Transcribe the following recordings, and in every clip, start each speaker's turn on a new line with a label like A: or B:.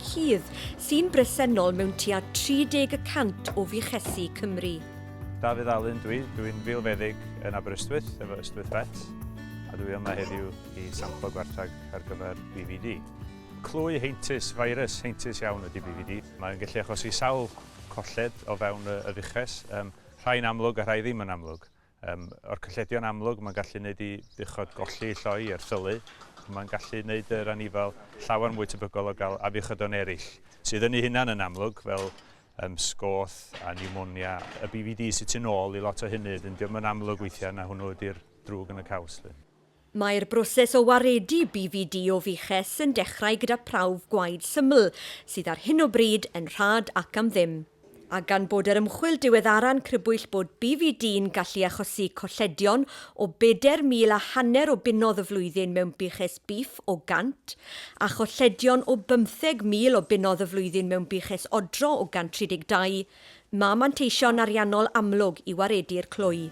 A: cudd, sy'n bresennol mewn tua 30 y cant o fuchesi Cymru. Dafydd Alun
B: dwi, dwi'n filfeddyg yn Aberystwyth efo Ystwyth Vets a dwi yma heddiw i samplo gwarthag ar gyfer BVD. Clwy heintus, virus heintus iawn ydy BVD. Mae'n gallu achosi sawl colled o fewn y fuches, rhai'n amlwg a rhai ddim yn amlwg. Yym, o'r cylledion amlwg, mae'n gallu gwneud i buchod golli lloi er syllu, ond mae'n gallu gwneud yr anifail llawer mwy tebygol o gael afiechydon eraill, sydd yn ei hunan yn amlwg, fel um, sgoth a pneumonia. Y BVD sy'n tu ôl i lot o hynny, dyn diolch yn amlwg weithiau na hwnnw ydy'r drwg yn y caws. Lly. Mae'r
A: broses o waredu BVD o fuches yn dechrau gyda prawf gwaed syml, sydd ar hyn o bryd yn rhad ac am ddim. A gan bod yr ymchwil diweddara'n crybwyll bod BVD'n gallu achosi colledion o bedair mil a hanner o bunnoedd y flwyddyn mewn buches bîff o 100, a cholledion o bymtheg mil o bunnoedd y flwyddyn mewn buches odro o 132, Mae manteision ariannol amlwg i waredu'r clwy.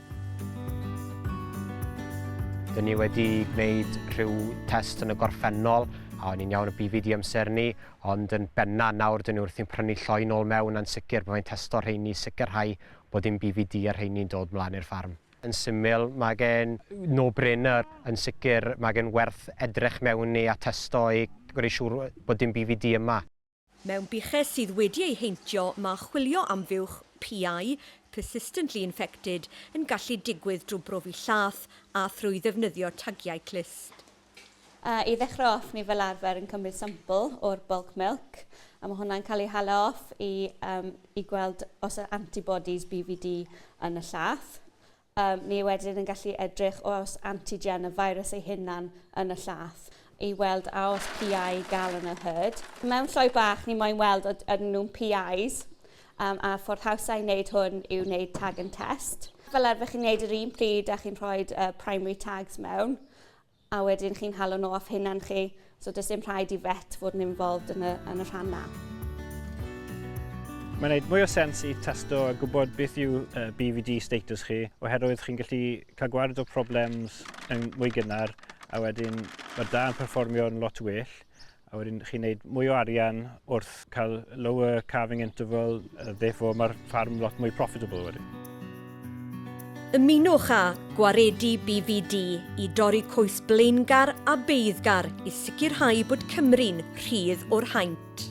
C: Dyn ni wedi gwneud rhyw test yn y gorffennol, a o'n i'n iawn y BV di amser ni, ond yn benna nawr dyn ni wrthi'n prynu lloi nôl mewn a'n sicr byddai'n testo rheini i sicrhau bod dim BV di ar rheini'n dod mlaen i'r ffarm. Yn syml, mae gen no brainer, yn sicr mae gen werth edrych mewn i a testo i gwneud siŵr bod dim BV di yma. Mewn buches
A: sydd wedi ei heintio, mae chwilio am fuwch, PI, persistently infected, yn gallu digwydd drwy brofi llath a thrwy ddefnyddio tagiau clust. I
D: ddechrau off, ni fel arfer yn cymryd sampl o'r bulk milk, a mae hwnna'n cael ei hala off i gweld os oes antibodies BVD yn y llath. Ni wedyn yn gallu edrych oes antigen y feirws ei hunan yn y llath i weld a oes PI gal yn y herd. Mewn sioe bach ni moyn weld od ydyn nhw'n PIs um, a ffordd hawsa i wneud hwn yw wneud tag and test. Fel arfer chi'n wneud yr un pryd a chi'n rhoi uh, primary tags mewn. A wedyn chi'n halo nhw off hunan chi, so does dim rhaid i vet fod yn involved yn y, yn y rhan na.
E: Mae'n gwneud mwy o sens i testo a gwybod beth yw uh, BVD status chi, oherwydd chi'n gallu cael gwared o problems yn mwy gynnar, a wedyn mae da yn perfformio yn lot well, A wedyn chi'n neud mwy o arian wrth cael lower calving interval, uh, therefore mae'r ffarm lot mwy profitable wedyn. Ymunwch
A: â Gwaredu BVD i dorri coes blaengar a beiddgar i sicrhau bod Cymru'n rhydd o'r haint.